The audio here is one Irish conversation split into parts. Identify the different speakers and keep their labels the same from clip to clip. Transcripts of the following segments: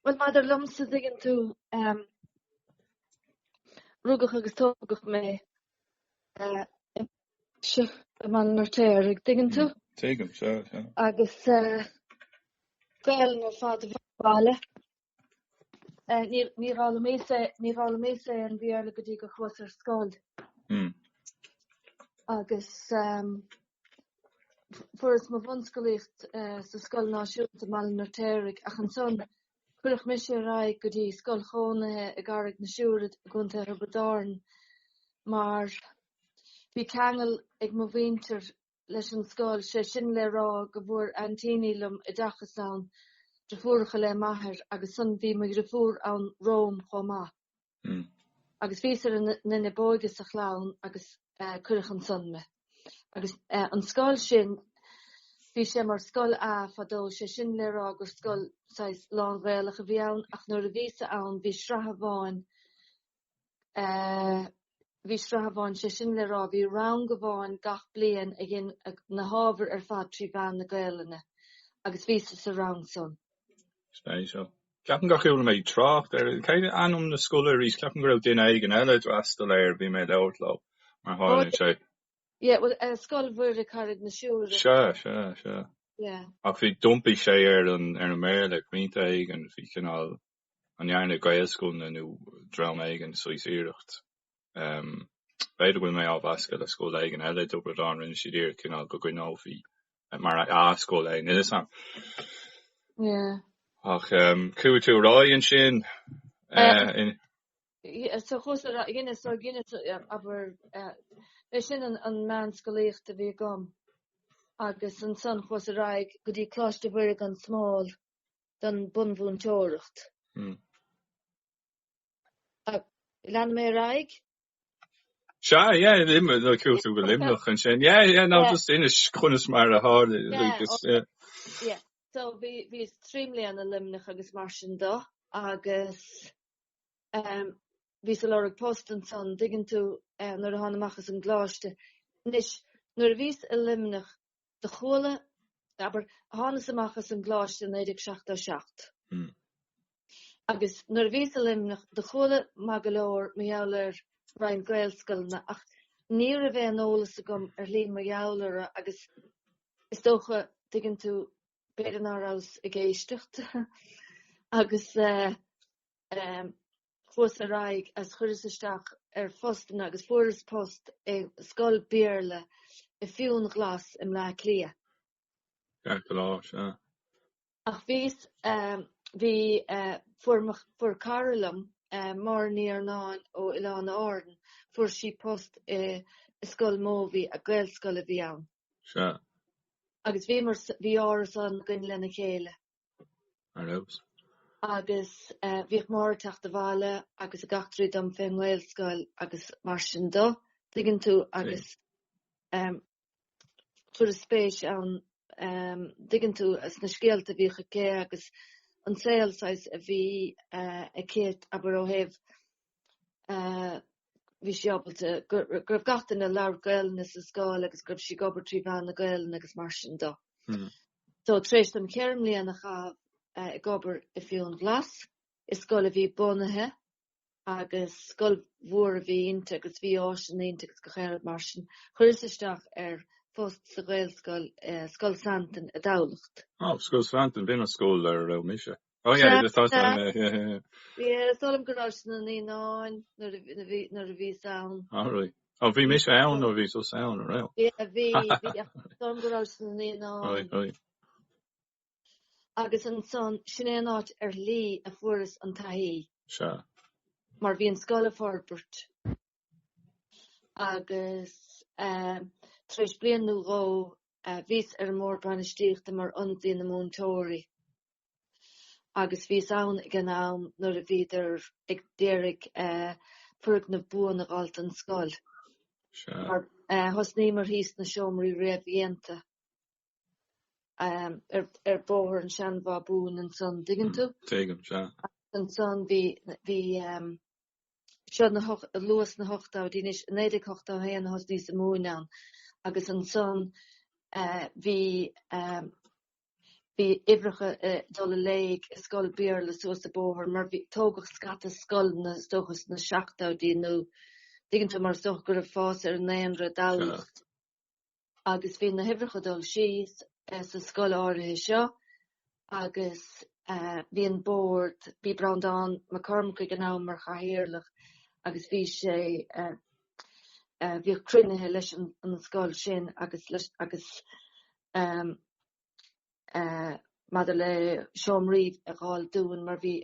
Speaker 1: Bhuel maidir liomsa dtuigeann tú rugadh agus tógadh mé i mBaile an Fheirtéaraigh, dtuigeann tú? Tuigim, sea,
Speaker 2: sea. Agus
Speaker 1: Gaelainn ar fad a bhí sa bhaile. Níor fhoghlaimíos, níor fhoghlaimíos an Béarla go dtí gur chuas ar scoil. Agus fuaireas mo bhunscolaíocht sa scoil náisiúnta i mBaile an Fheirtéaraigh ach ansan cuireadh mise ar aghaidh go dtí scoil chónaithe i gCarraig na Siúire i gContae Thiobraid Árann mar bhí ceangal ag mo mhuintir leis an scoil, sé sin le rá go bhfuair aintíní liom oideachas ann, driofúracha le m'athair, agus ansan bhí mo dhriofúr ann romham chomh maith. Agus bhíos ar an nduine b'óige sa chlann agus cuireadh ansan me. Agus an scoil sin, bhí sé mar scoil A fadó, sé sin le rá gur scoil saghas lán-Ghaelach a bhí ann, ach nuair a bhíosa ann bhí sraith amháin, bhí sraith amháin, sé sin le rá, bhí rang amháin gach bliain a dhein na hábhair ar fad trí mheán na Gaelainne, agus bhíosa sa rang san. Spéisiúil.
Speaker 2: Ceapaim gur chuala mé trácht air. Cad é ainm na scoile arís? Ceapaim go raibh duine éigin eile a d'fhreastail air, bhí mé ag labhairt leo mar tharlaíonn sé. Yeah, well, uh,
Speaker 1: Scoil Mhuire Carraig na Siúire. Sea, sea,
Speaker 2: sea. Yeah.
Speaker 1: Ach bhí,
Speaker 2: d'iompaigh sé ar an, ar an mBéarla ag pointe éigin, bhí cineál an ndearna Gaelscoileanna nó dream éigin saghas iarracht. B'fhéidir go bhfuil mé á mheascadh le scoil éigin eile i dTiobraid Árann, rinne siad iarracht cineál go gcoinneofaí mar A-scoil é nó ní feasach mé.
Speaker 1: Ach
Speaker 2: chuaigh tú ar aghaidh ansin.
Speaker 1: So chuas go dtí Inis, abair, é sin an meánscolaíocht a bhí agam agus ansan chuas ar aghaidh go dtí Coláiste Mhuire gan Smál don bunmhúinteoireacht. Leanfaidh mé ar
Speaker 2: aghaidh? Sea, yeah, Luimneach, chuaigh tú go Luimneach ansin. Yeah, yeah, no, just inis conas mar a tharla, like, is, yeah.
Speaker 1: Yeah, so bhí, bhíos trí bliana i Luimneach agus mar sin do, agus, ehm, bhíos ag lorg post ansan, dtuigeann tú, eh, nuair a thána amach as an gcoláiste. Anois, nuair a bhíos i Luimneach, do chuala, abair, thánas amach as an gcoláiste i 1977. Agus nuair a bhíos i Luimneach, do chuala mé go leor mar gheall ar roinnt Gaelscoileanna, ach ní raibh aon eolas agam ar shlí mar gheall orthu, agus is dócha, tuigeann tú, b'fhéidir ná rabhas ag éisteacht. Agus eh, eh, Chuas ar aghaidh agus chuireas isteach ar phostanna agus fuaireas post i scoil Béarla i Fionnghlas i mBleá Cliath. Ceart go leor, sea. Ach bhíos, bhí, fuair mo, fuair cara liom, Máire Ní Iarnáin ó Oileáin Árann, fuair sí post i Scoil Mobhí, Gaelscoil ab ea í ann. Sea. Agus bhíomar, bhí árasán againn lena chéile. Ar fheabhas. Agus bhíodh Máire ag teacht abhaile agus ag eachtraí dhom fén nGaelscoil agus mar sin de, an dtuigeann tú, agus chuireas spéis, an dtuigeann tú, sna scéalta a bhíodh aici agus an saol saghas a bhí aici, abair, ó thaobh bhí sí ábalta, go raibh gach duine ag labhairt Gaelainne sa scoil agus go raibh sí ag obair trí mheán na Gaelainne agus mar sin de. So, tar éis dom cheithre mbliana a chaitheamh ag obair i Fionnghlas, i scoil a bhí bunaithe agus scoil mhór a bhí inti agus bhí áiseanna inti agus gach aon rud mar sin, chuireas isteach ar phost sa Ghaelscoil, Scoil Santain, i dTamhlacht. Oh, Scoil Santain,
Speaker 2: b'in an scoil ar a raibh mise. Oh yeah, he was talking about it, yeah, yeah, yeah.
Speaker 1: Yeah, is dóigh liom go raibh sé ina naíonáin nuair a bhí, nuair, nuair a bhíos ann. Oh right. Oh bhí
Speaker 2: mise ann nuair a bhíos os cionn, a raibh? Yeah, bhí, bhí, ach is
Speaker 1: dóigh liom go raibh sé ina naíonáin. Right, right.
Speaker 2: Agus
Speaker 1: ansan, sin é an áit ar shlí a fuaireas an taithí. Sea.
Speaker 2: Mar bhí an
Speaker 1: scoil i bhforbairt agus eh, tar éis bliain nó dhó, eh, bhíos ar an mbord bainistíochta mar ionadaí na múinteoirí. agus bhíos ann ag an am nuair a bhíodar a d'iarraidh foirgneamh buan a dh'fháilt don scoil.
Speaker 2: Thosnaíomar
Speaker 1: thíos sna seomraí réamhdhéanta ar bóthar an tSeanbhábhúin ansan, dtuigeann tú? Tuigim, sea.
Speaker 2: Agus ansan
Speaker 1: bhí, bhí, seo na hocht- luath sna hochtóidí anois, i naoi déag ochtó a haon a thosnaíos ag múineadh ann, agus ansan bhí Bhí uimhreacha ag dul i léig i scoil Bhéarla suas an bóthar mar bhí, tógadh scata scoileanna is dócha sna seachtóidí nó dtuigeann tú mar is dócha go raibh fás ar an ndaonra i dTamhlacht agus bhí na huimhreacha ag dul síos sa scoil áirithe seo agus bhí an bord, bhí Breandán Mac Cormaic ag an am mar chathaoirleach agus bhí sé, bhíodh cruinnithe leis an scoil sin agus leis, agus. maidir le seomraí a dh'fháil dúinn mar bhí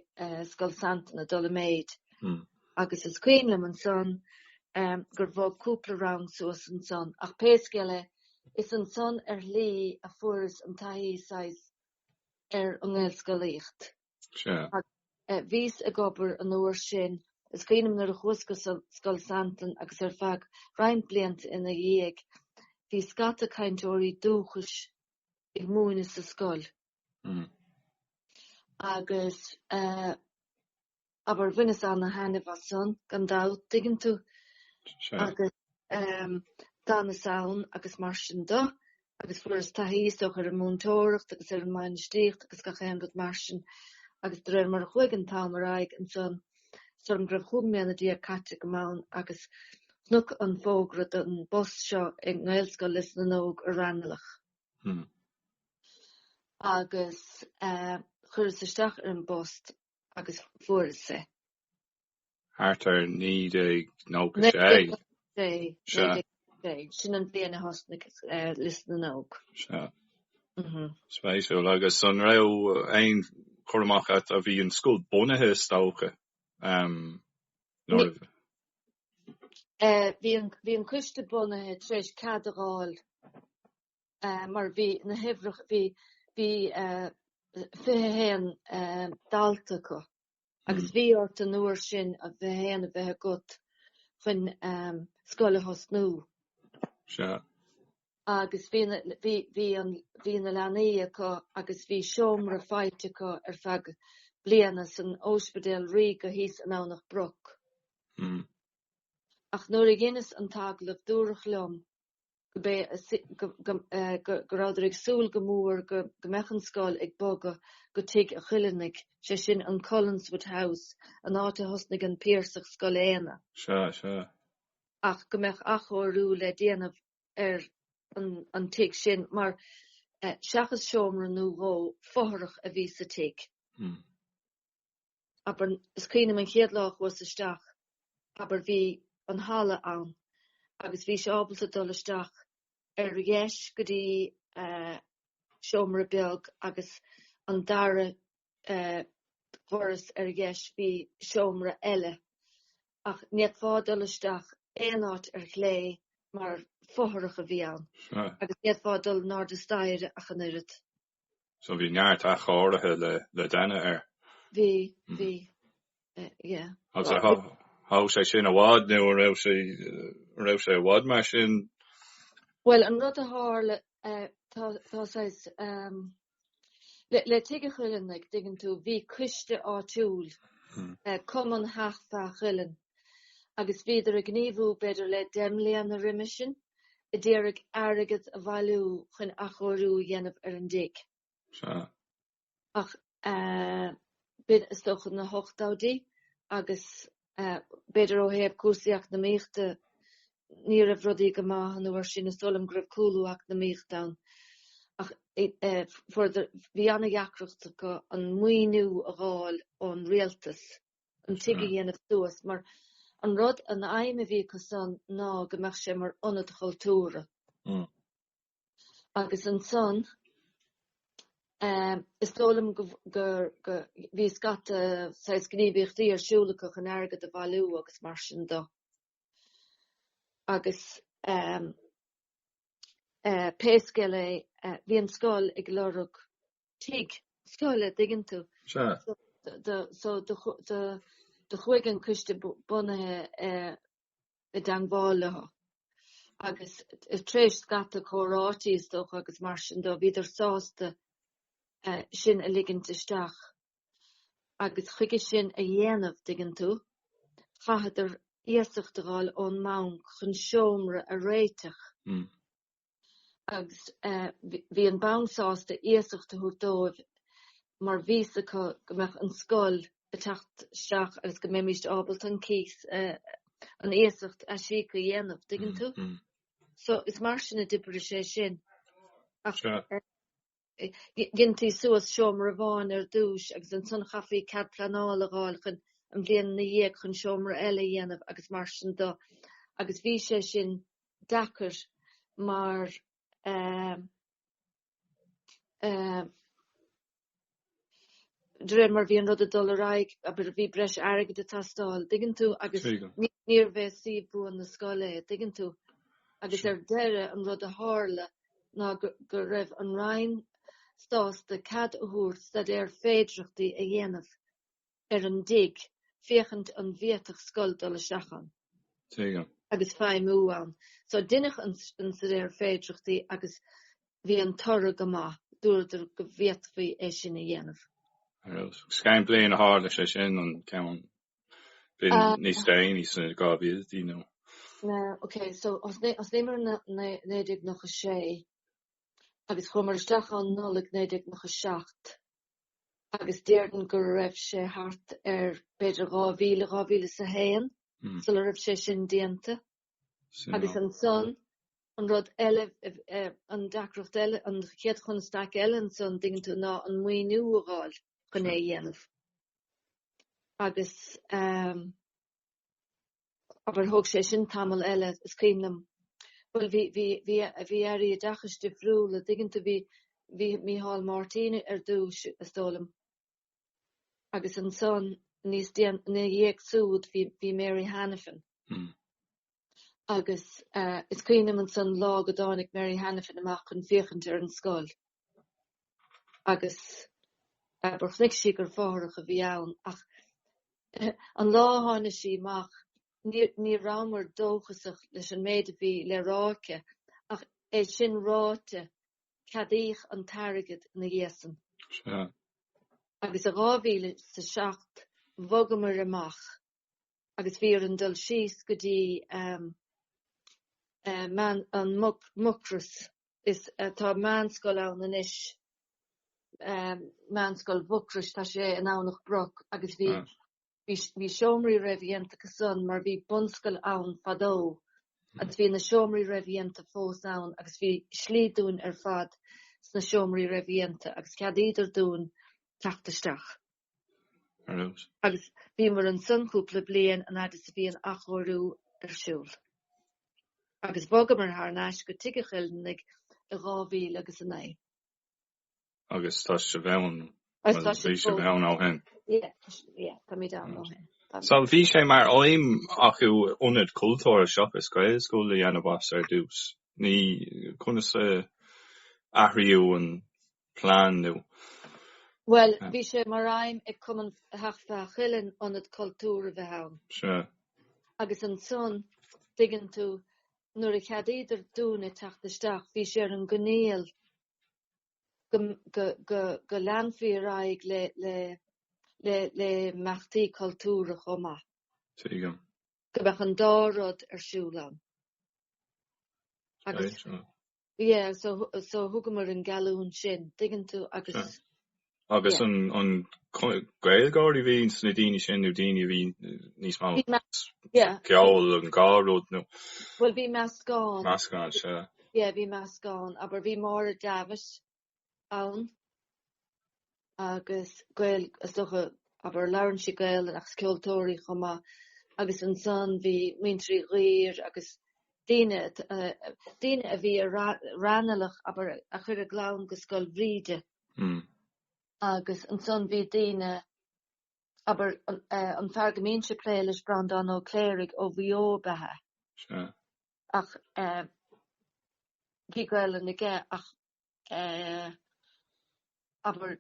Speaker 1: Scoil Santain ag dul i méid agus is cuimhin liom ansan gur bhog cúpla rang suas ansan ach pé scéal é, is ansan ar shlí a fuaireas an taithí saghas ar an nGaelscolaíocht. Bhíos ag obair an uair sin is cuimhin liom nuair a chuas go Scoil Santain agus ar feadh roinnt blianta ina dhiaidh bhí scata cainteoirí dúchais ag múineadh sa scoil agus abair bhaineas ana thaitneamh as san gan dabht, tuigeann tú? ehm, d'fhanas ann agus mar sin do, agus fuaireas taithí is dócha ar an múinteoireacht agus ar an mbainistíocht agus gach aon rud mar sin, agus de réir mar a chuaigh an t-am ar aghaidh ansan, sílim go raibh chúig mbliana déag caite agam ann agus chonac an fógra don bpost seo i nGaelscoil Lios na nÓg i Raghnallach. Hmm. Agus eh, chuireas isteach ar an bpost agus fuaireas é.
Speaker 2: thart ar 1996.
Speaker 1: Sin an bhliain a thosnaigh Lios na nÓg. Sea.
Speaker 2: Spéisiúil. Agus an raibh aon chur amach agat, a bhí an scoil bunaithe is dócha
Speaker 1: nuair a. Bhí an coiste bunaithe tar éis cead a dh'fháil mar bhí na huimhreacha, bhí 21 dalta acu. agus bhí ort an uair sin fiche haon a bheith agat chun scoil a thosnú. Sea. Agus bhí na, bhí, bhí an, bhí na leanaí acu agus bhí seomra faighte acu ar feadh bliana san Ospidéal Ríoga thíos i nDomhnach Broc. Ach nuair a dheineas an t-agallamh dúradh liom go, go rabhadar ag súil go mór go mbeadh an scoil ag bogadh go Tigh an Chuilinn, sé sin an Cullenswood House, an áit a thosnaigh an Piarsach Scoil Éanna. Sea, sea. ach go mbeadh athchóiriú le déanamh ar an tigh sin mar seachas seomra nó dhó fothrach a bhí sa tigh. abair, is cuimhin liom an chéad lá a chuas isteach, abair, bhí an halla ann agus bhís ábalta dul isteach ar dheis go dtí seomra beag agus an dara dhoras ar dheis bhí seomra eile ach ní fhéadfá dul isteach aon áit ar chlé mar fothrach a bhí ann agus ní fhéadfá dul in airde staighre ach an oiread. So
Speaker 2: bhí neart athchóirithe le déanamh air. Bhí,
Speaker 1: bhí, yeah.
Speaker 2: Agus thóg sé sin i bhfad nó an raibh sé, an raibh sé i bhfad mar sin? Bhuel, an
Speaker 1: rud a tharla, tá, tá saghas, le Tigh a' Chuilinn, like, dtuigeann tú, bhí coiste áitiúil, Cumann Theach Feadha Cuilinn, agus bhíodar ag gníomhú b'fhéidir le deich mbliana roimis sin. ag d'iarraidh airgead a bhailiú chun athchóiriú a dhéanamh ar an dtigh. Sea. Ach b'in, is dócha, na hochtóidí agus b'fhéidir ó thaobh cúrsaí eacnamaíochta ní raibh rudaí go maith an uair sin. Is dóigh liom go raibh cúlú eacnamaíochta ann ach fuaireadar, bhí an-deacracht acu an maoiniú a dh'fháil ón rialtas. an tigh a dhéanamh suas mar an rud, an aidhm a bhí acu san ná go mbeadh sé mar ionad chultúrtha. Agus ansan ehm is dóigh liom go go bhí scata saghas gníomhaíochtaí ar siúl acu chun airgead a bhailiú agus mar sin dó. Agus ehm eh pé scéal é eh bhí an scoil ag lorg tigh scoile, dtuigeann tú. Sea. So do do so do chu- do do chuaigh an coiste bu- bunaithe eh i dteangmháil leo agus eh tar éis scata comhráití is dócha agus mar sin dó bhíodar sásta eh sin a ligint isteach agus chuige sin a dhéanamh dtuigeann tú chaitheadar iasacht a dh'fháil ón mbanc chun seomra a réiteach. agus bhí an banc sásta iasacht a thabhairt dóibh mar bhí a fhios acu go mbeadh an scoil ag teacht isteach agus go mbeimís ábalta an cíos, an iasacht a aisíoc, a dhéanamh, dtuigeann tú? So is mar sin a d'oibrigh sé sin. Dheintí suas seomra amháin ar dtúis agus ansan chaithfí cead pleanála a dh'fháil chun an bhliain ina dhiaidh chun seomra eile a dhéanamh agus mar sin dó agus bhí sé sin deacair mar eh, eh, de réir mar bhí an rud ag dul ar aghaidh, abair, bhí breis airgid ag teastáil, dtuigeann tú, agus níorbh é suíomh buan na scoile é, dtuigeann tú. Agus ar deireadh an rud a tharla ná go raibh an Roinn sásta cead a thabhairt staidéar féidearthachta a dhéanamh. ar an dtigh, féachaint an bhféadfadh scoil dul isteach ann. Téigh ann. agus feidhmiú ann. So deineadh an staidéar féidearthachta agus bhí an toradh go maith, dúradar go bhféadfaí é sin a dhéanamh. Is
Speaker 2: cén bhliain a tharla sé sin, an cúpla bliain níos déanaí sna 2000idí nó. Na,
Speaker 1: ok, so d'osclaíomar 1996 agus chuamar isteach ann Nollaig 1997, agus déarfainn go raibh sé thart ar b'fhéidir dhá mhíle, dhá mhíle is a haon sula raibh sé sin déanta. Agus ansan, an rud eile, an deacracht eile, an chéad chonstaic eile ansan dtuigeann tú ná an maoiniú a dh'fháil chun é a dhéanamh. Agus. Abair, thóg sé sin tamall eile, is cuimhin liom. Bhuel, bhí, bhí, bhí, bhí Airí Oideachais difriúla, dtuigeann tú, bhí, bhí Micheál Máirtín ar dtús, is dóigh liom, agus ansan níos déan, ina dhiaidh súd bhí, bhí Mary Hanafin. Hmm. Agus uh, is cuimhin liom ansan lá go dtáinig Mary Hanafin amach chun féachaint ar an scoil. agus abair, chonaic sí gur fothrach a bhí ann, ach an lá a tháinig sí amach, ní rabhamar dóchasach leis an méid a bhí le rá aici, ach é sin ráite, ceadaíodh an t-airgead ina dhiaidh san. Agus i dhá mhíle is a seacht, bhogamar amach, agus bhí orainn dul síos go dtí an Mucros. is tá meánscoil ann anois ehm meánscoil Mhucrois tá sé i nDomhnach Broc agus bhí mm. bhí bhí seomraí réamhdhéanta acu san mar bhí bunscoil ann fadó mm. agus bhí na seomraí réamhdhéanta fós ann agus bhí slí dúinn ar fad sna seomraí réamhdhéanta agus cheadaíodar dúinn teacht isteach Agus bhíomar ansan cúpla bliain an fhad is a bhí an athchóiriú ar siúl. Agus bhogamar thar n-ais go Tigh an Chuileannaigh i dhá mhíle agus a naoi.
Speaker 2: Agus tá sibh ann, nó bhí sibh ann ó shin. Yeah,
Speaker 1: táimid ann ó shin. So bhí sé
Speaker 2: mar aidhm acu ionad cultúrtha seachas Gaelscoil a dhéanamh as ar dtús. Ní, conas a athraíodh an. plean nó.
Speaker 1: Bhuel, bhí sé mar aidhm ag Cumann Theach Fheadha Chuilinn ionad cultúrtha a bheith ann. Sea. Agus ansan, dtuigeann tú, nuair a cheadaíodar dúinne teacht isteach, bhí sé ar an gcoinníoll go leanfaí ar aghaidh le imeachtaí cultúrtha chomh maith. Tuigim. Go mbeadh an dá rud ar siúl ann. Agus. Yeah, so so thugamar an geallúint sin, dtuigeann tú, agus yeah. Agus an
Speaker 2: an Gaeilgeoirí a bhí sna daoine sin nó daoine a bhí níos mó yeah. ceol an dá rud nó Bhuel
Speaker 1: bhí meascán. Meascán, sea.
Speaker 2: Yeah, bhí meascán,
Speaker 1: abair bhí Máire Davis ann agus Gaeil, is dócha, abair, labhrann sí Gaelainn agus ceoltóir í chomh maith agus ansan bhí muintir Uí Dhuibhir agus daoine a, daoine a bhí i Ranelagh, abair, a chuir a gclann go Scoil Bhríde agus ansan bhí daoine, abair, an fear go mbínnse ag plé leis Breandán Ó Cléirigh ó Mhaigh Eo ab ea é, ach bhí Gaelainn aige ach abair,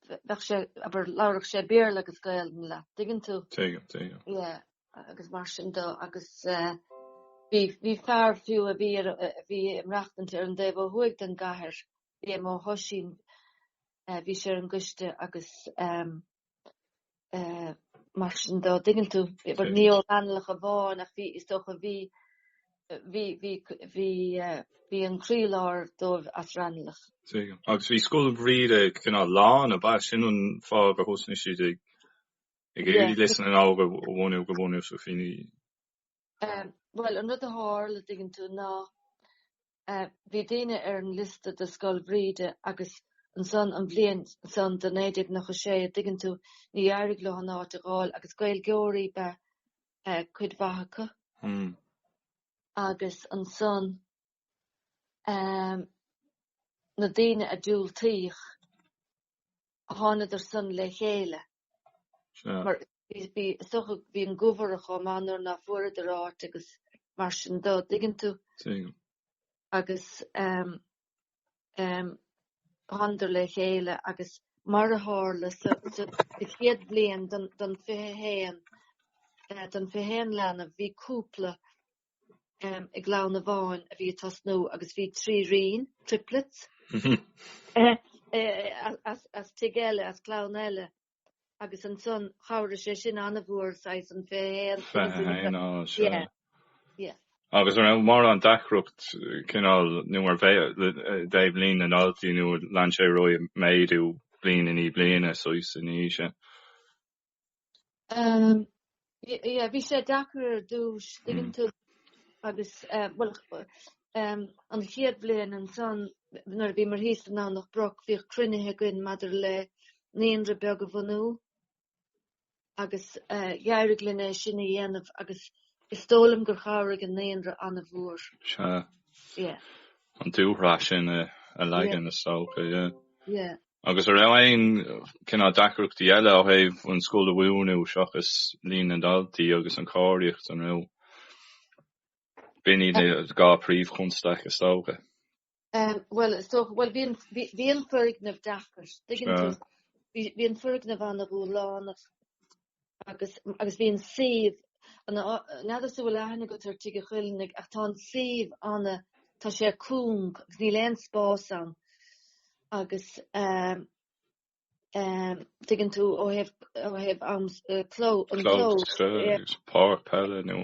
Speaker 1: bheadh sé, abair, labharfadh sé Béarla agus Gaeilg leat, dtuigeann tú? Tuigim, tuigim. Ie, agus mar sin do, agus bhí, bhí fear fiú a bhí ar a, a bhí ag maireachtaint ar an dtaobh ó thuaidh den gcathair, bhí Éamonn Ó hOisín, bhí sé ar an gcoiste agus, eh, mar sin de dtuigeann tú, abair ní ó Raghnallach amháin ach bhí, is dócha, bhí, bhí, bhí, bhí eh, bhí an croílár díobh as Raghnallach. Tuigim. Agus
Speaker 2: bhí scoil Bhríde cineál lán, ab ea? Sin an fáth gur thosnaigh siad ag, ag éirí Lios na nÓg a bhunú, go bhfuair Naoimh Ó Suibhchín í.
Speaker 1: Ehm bhuel an rud a thárla dtuigeann tú ná eh bhí daoine ar an liosta do Scoil Bhríde agus ansan an bhliain san do 1996 dtuigeann tú níor éirigh leo san áit a dh'fháil agus Gaeilgeoirí ba eh cuid mhaith acu. Hm. Agus ansan ehm na daoine a diúltaíodh thánadar san le chéile. Mar bhí soch ag, bhí an-ghoillte chomh maith nuair ná fuaireadar áit agus mar sin do, dtuigeann tú. Tuigim. Agus thánadar le chéile agus mar a tharla an chéad bhliain den 21, den 21 leanbh, bhí cúpla i gclann amháin a bhí ag tosnú agus bhí tríríní, triplets, as tig eile, as clann eile agus ansan chabhraigh sé sin an-mhór saghas an 21. 21, á, sea.
Speaker 2: Sea. Agus a raibh mórán deacracht cineál nó mar ó thaobh líon na ndaltaí nó lean sé air ag méadú bliain i ndiaidh bliana, saghas, in aois a.
Speaker 1: Ia, bhí sé deacair ar dtús, dtuigeann tú agus, bhuel, an chéad bhliain ansan, nuair a bhíomar thíos i nDomhnach Broc, bhíodh cruinnithe againn maidir le naíonra beag a bhunú agus d'éirigh linn é sin a dhéanamh agus is dóigh liom gur chabhraigh an naíonra an-mhór. Sea.
Speaker 2: An dúshraith sin a leagan is dócha, ia. Ia. Agus a raibh aon chineál deacrachtaí eile ó thaobh an scoil a bhunú seachas líon na ndaltaí agus an chóiríocht an raibh b'in iad an dá príomhchonstaic, is dócha?
Speaker 1: Bhuel, is dócha, bhuel, bhí an foirgneamh deacair, tuigeann tú, bhí an foirgneamh an-ghualánach. agus agus bhí an suíomh n'fheadar an bhfuil aithne agat ar Tigh a' Choilnigh ach tá an suíomh ana tá sé cúng agus níl aon spás ann agus dtuigeann tú ó thaobh ó thaobh an cló an cló clós
Speaker 2: páirc peile nó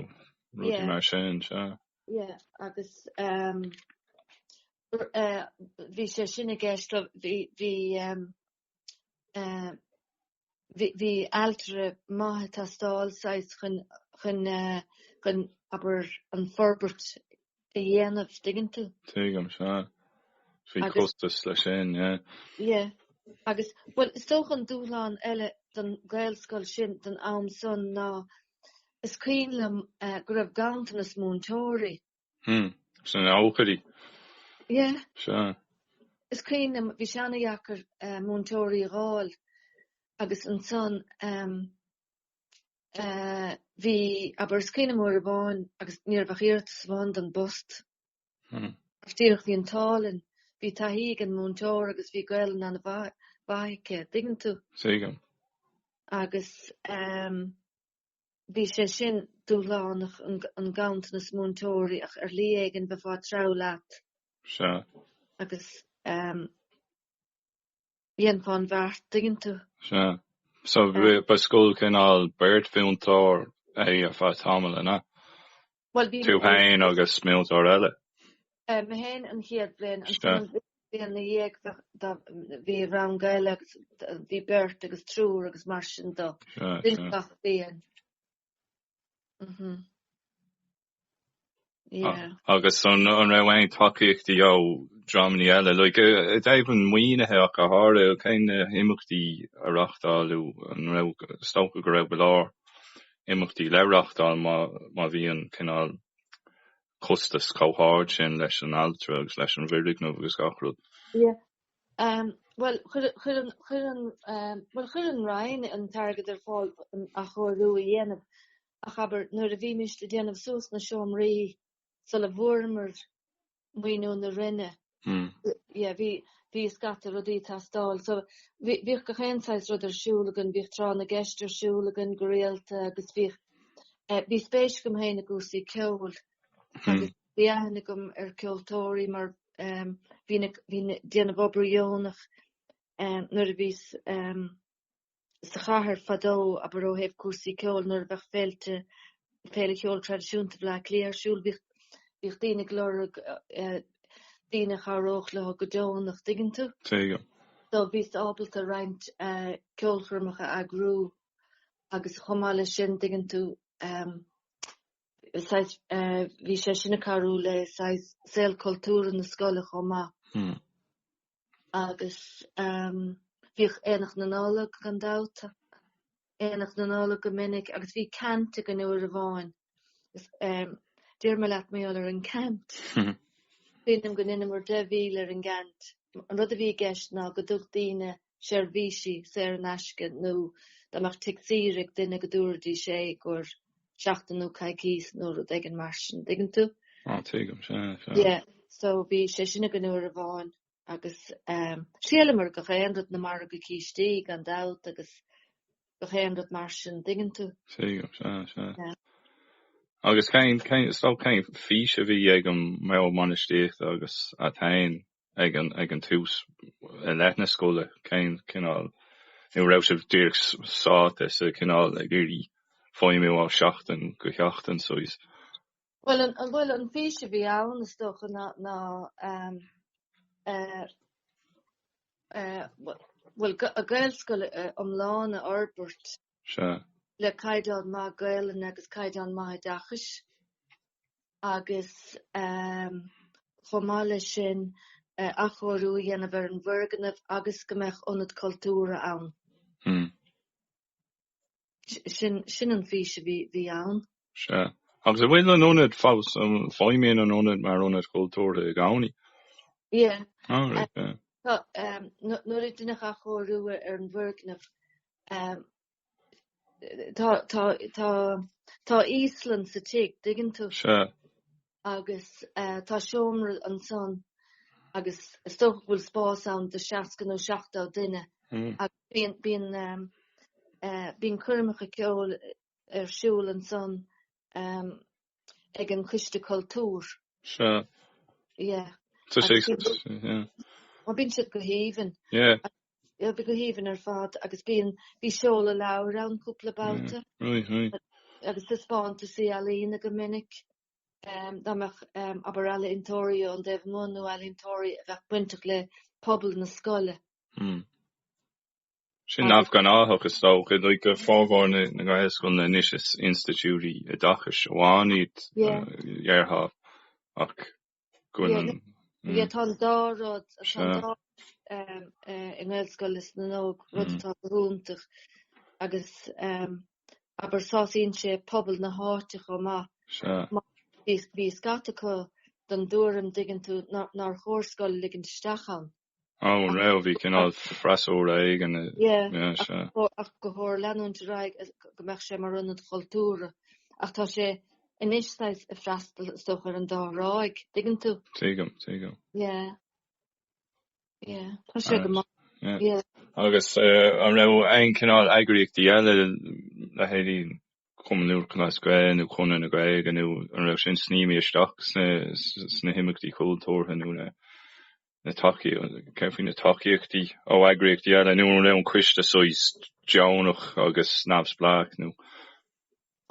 Speaker 2: rudaí mar sin sea
Speaker 1: ie agus bhí sé sin i gceist bhí bhí bhí ailtire maith ag teastáil saghas chun, chun eh, chun abair an forbairt a dhéanamh, dtuigeann tú. Tuigim, sea.
Speaker 2: Bhí Agus- costas leis sin, yeah.
Speaker 1: Ie. Agus, bhuel, is dócha an dúshlán eile don Ghaelscoil sin don am san ná, is cuimhin liom eh, go raibh ganntanas múinteoirí Hmm.
Speaker 2: Sna nóchaidí. Yeah.
Speaker 1: Sea. Is cuimhin liom, bhí sé an-deacair múinteoirí a dh'fháil agus ansan ehm eh bhí, abair, is cuimhin liom uair amháin agus ní raibh ach iarratas amháin don bpost. Hmm. Agus díreach bhí an t-ádh linn, bhí taithí ag an múinteoir agus bhí Gaelainn an-mhaith aici, dtuigeann tú. Tuigim.
Speaker 2: Agus
Speaker 1: ehm Bhí sé sin dúshlánach, an ganntanas múinteoirí, ach ar shlí éigin bheifeá ag treabhadh leat agus dhéanfá an bheart, dtuigeann tú. Sea.
Speaker 2: So ba scoil cineál, beirt mhúinteoir é ar feadh tamaill, an ea? Tú féin agus múinteoir eile? Mé
Speaker 1: féin an chéad bhliain. Ansan an bhliain ina dhiaidh bhí rang eile agus bhí beirt agus triúr agus mar sin do bhí gach bliain.
Speaker 2: Agus an raibh aon tacaíochtaí ó dhreamanna eile? Like, i dtaobh an mhaoinithe ach go háirithe, cé na himeachtaí a reáchtáladh? An raibh, is dócha go raibh go leor. imeachtaí le reáchtáil má bhí an cineál costas chomh hard sin leis an ailtire agus leis an bhfoirgneamh agus gach rud. Bhuel, chuir
Speaker 1: an, chuir an, bhuel, chuir an Roinn an t-airgead ar fáil an athchóiriú a dhéanamh, ach abair, nuair a bhímis le déanamh suas na seomraí sula bhfuaireamar maoiniú na Roinne. Yeah, bhí, bhí scata rudaí ag teastáil. So, bhí, bhíodh gach aon saghas rud ar siúl againn, bhíodh Tráth na gCeist ar siúl againn go rialta agus bhíodh, eh, bhí spéis agam féin i gcúrsaí ceoil. Agus bhí aithne agam ar ceoltóirí mar, eh, bhínn ag, bhínn ag déanamh obair dheonach, eh, nuair a bhíos, eh, sa chathair fadó, abair ó thaobh cúrsaí ceoil, nuair a bheadh féilte, Féile Cheol Traidisiúnta Bhleá Cliath ar siúl, bhíodh daoine ag lorg daoine a chabhródh leo go deonach, dtuigeann tú? So
Speaker 2: bhíos
Speaker 1: ábalta roinnt ceolchoirmeacha a eagrú agus chomh maith leis sin, dtuigeann tú, saghas, bhí sé sin ag cabhrú le saghas saol cultúrtha na scoile chomh maith. agus ehm bhíodh Aonach na Nollag gan dabht, Aonach na Nollag go minic agus bhí ceant againn uair amháin is ehm d'éirigh go maith leis an gceant. Sílim go ndeineamair deich míle ar an gceant. An rud a bhí i gceist ná go dtugadh daoine seirbhísí saor in aisce nó dá mbeadh tigh saoire ag duine go dtabharfaidís é ar seachtain nó coicís nó rud éigin mar sin, dtuigeann tú? Á, tuigim,
Speaker 2: sea, sea.
Speaker 1: Yeah, so bhí sé sin againn uair amháin agus thriaileamar gach aon rud, na margaí cístí, gan dabht, agus gach aon rud mar sin, dtuigeann tú? Tuigim, sea,
Speaker 2: sea. Yeah. Agus cén, cén, so cén fís a bhí ag an mBord Bainistíochta agus a' t-aon? ag an, ag an tús, i leith na scoile, cén cineál, nó an raibh sibh díreach sáite sa chineál ag iarraidh feidhmiú ó sheachtain go seachtain saghas? Bhuel,
Speaker 1: an, bhuel, an fís a bhí ann, is dócha, ná, ná, eh, eh, bhuel, bhuel, Gaelscoil iomlán a fhorbairt, Sea. le caighdeán maith Gaelainne agus caighdeán maith oideachais agus ehm chomh maith leis sin eh, athchóiriú a dhéanamh ar an bhfoirgneamh agus go mbeadh ionad cultúrtha ann. Hmm. Sin, sin an fís a bhí, bhí ann. Sea. Agus
Speaker 2: an bhfuil an ionad fós, an feidhmíonn an ionad mar ionad cultúrtha i gcónaí. Yeah. Ah, right, yeah.
Speaker 1: Tá, ehm, nu- nuair a deineadh athchóiriú ar an bhfoirgneamh, Ehm tá tá tá tá íoslach sa tigh dtuigeann tú. Sea. Agus eh tá seomra ansan agus is dócha go bhfuil spás ann do seasca nó seachtó duine agus bíonn bíonn ehm eh bíonn coirmeacha ceoil ar siúl ansan ehm. ag an Coiste Cultúir. Sea. Yeah. Tá sé ag, yeah. Ó, bíonn siad go haoibhinn. Yeah. Yeah, bhí go haoibhinn ar fad, agus bíonn, bhí seoladh leabhair ann cúpla babhta. Aye, aye. Agus taispeántaisí ealaíne go minic, dá mbeadh abair ealaíntóirí ón dtaobh amuigh nó ealaíntóirí a bheadh bainteach le pobal na scoile. Mm.
Speaker 2: Sin neamhghnách, is dócha, go bhfágfar na Gaelscoileanna anois. Is institiúidí oideachais amháin iad, dhéarfá, ach go bhfuil an. Bhí, tá an
Speaker 1: dá rud, tá an dá i nGaelscoil is na nÓg, rud atá go hiontach, agus abair, sásaíonn sé pobal na háite chomh maith. Sea. Mar bhí scata acu den dtuairim, dtuigeann tú, nár chóir scoil a ligean isteach ann. Ó, an
Speaker 2: raibh? Bhí cineál freasúra éigin.
Speaker 1: Sea. Ach gur chóir leanúint ar aghaidh go mbeadh sé mar ionad chultúrtha. Ach tá sé anois saghas ag freastal, is dócha, ar an dá thráigh, dtuigeann tú? Tuigim, tuigim. Yeah.
Speaker 2: Yeah.
Speaker 1: Tá sé go maith. Yeah.
Speaker 2: Agus an raibh aon chineál eagraíochtaí eile le hais Chumann Lúthchleas Gael nó Conradh na Gaeilge nó an raibh sin snaidhmthe isteach sna himeachtaí cultúrtha nó na. na tacaíochtaí, céard faoi na tacaíochtaí ó eagraíochtaí eile nó an raibh an coiste saghas deonach agus neamhspleách nó.?